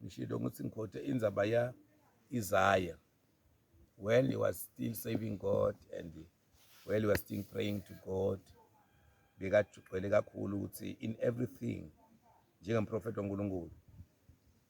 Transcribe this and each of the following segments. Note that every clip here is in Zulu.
ngishilo ukuthi ngikhothe indzaba ya Isaiah while he was still saving God and while he was still praying to God bekagcwele kakhulu ukuthi in everything njengemprofethi waNkulunkulu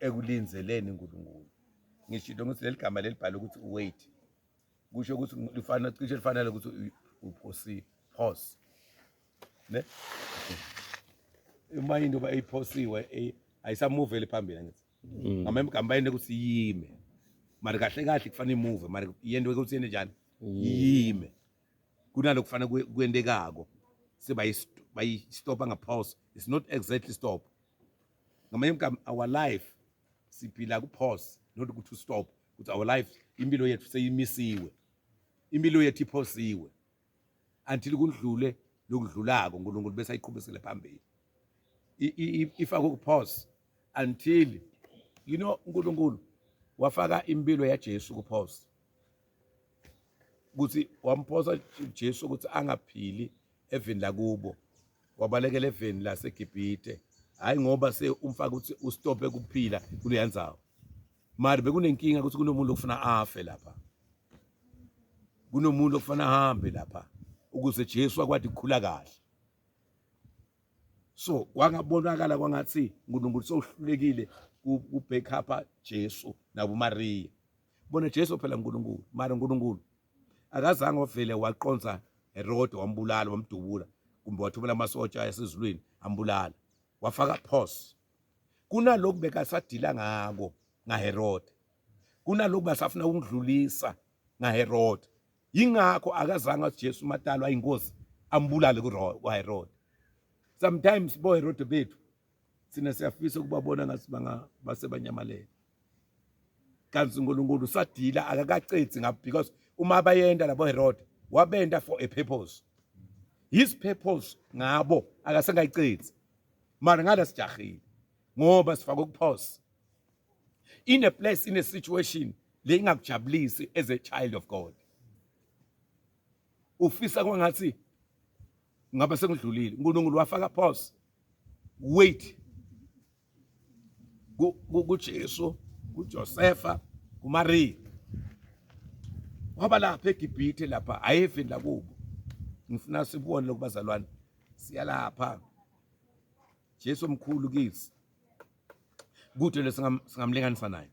ekulinzeleni uNkulunkulu ngishilo ukuthi leli gama lelibhala ukuthi wait kusho ukuthi lifana cishe lifanele ukuthi uphosi pause ne uma into ba iphosiwe eh, ayisamuveli phambili ngithi mm. ngama emgamba yini ukuthi yime mari kahle kahle kufanele imuve mari yento ukuthi yende njani yime kunalo kufanele kuyendekako sebayi stop ngapause it's not exactly stop ngamanye amagama our life siphila kupause not ukuthi stop ukuthi our life impilo yethu seyimisiwe impilo yethu iphosiwe until kudlule lokudlulako uNkulunkulu bese ayiqhubisele phambili ifaka kupause until you know uNkulunkulu wafaka impilo yaJesu kupause ukuthi wamphosa Jesu ukuthi angaphili evini lakubo wabalekela evini laseGibhite hayi ngoba se umfaka ukuthi ustope kuphila kuleya ndzawo mari bekunenkinga ukuthi kunomuntu ofuna afe lapha kunomuntu ofuna ahambe lapha ukuze Jesu akwadi ukukhula kahle so kwangabonakala kwangathi uNkulunkulu sohlulekile kubackupa Jesu nakuMariya bona Jesu phela uNkulunkulu mara uNkulunkulu akazange ovele waqonsa eroad wambulala wamdubula kumbe wathumela amasotsha yasezulwini ambulala wafaka pause kunalokhu bekasadila ngako ngaherode kunalokhu basafuna ukudlulisa ngaherode yingakho akazange ujesu matalo ayingozi ambulale kuherode sometimes boherode bethu thina siyafisa ukubabona ngathi bangabase banyamalele kanti uNkulunkulu usadila akakacedi ngabo because uma bayenda labo Herod wabenda for a purpose his purpose ngabo akasengayicedi mara ngala sijahile ngoba sifaka ukuphosa in a place in a situation le ingakujabulisi as a child of God ufisa kwangathi ngabe sengidlulile uNkulunkulu wafaka pause wait kuJesu kuJosefa kuMariya waba lapha eGibhithe lapha ayefi la kubo ngifuna sibone lokubazalwane siyalapha Jesu omkhulu kithi kude lesingamlinganisa naye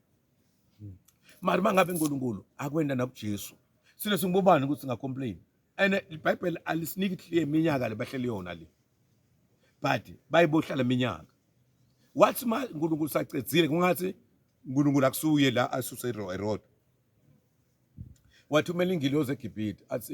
mari mangabe uNkulunkulu akwenda nakuJesu sine singibobani ukuthi singacomplain and ibhayibheli alisiniki clear iminyaka le bahleli yona le but bayibohlala iminyaka wathi ma uNkulunkulu sacedzile kungathi uNkulunkulu akusuye la asuse eroad wathumela ingilozi eGibhithe athi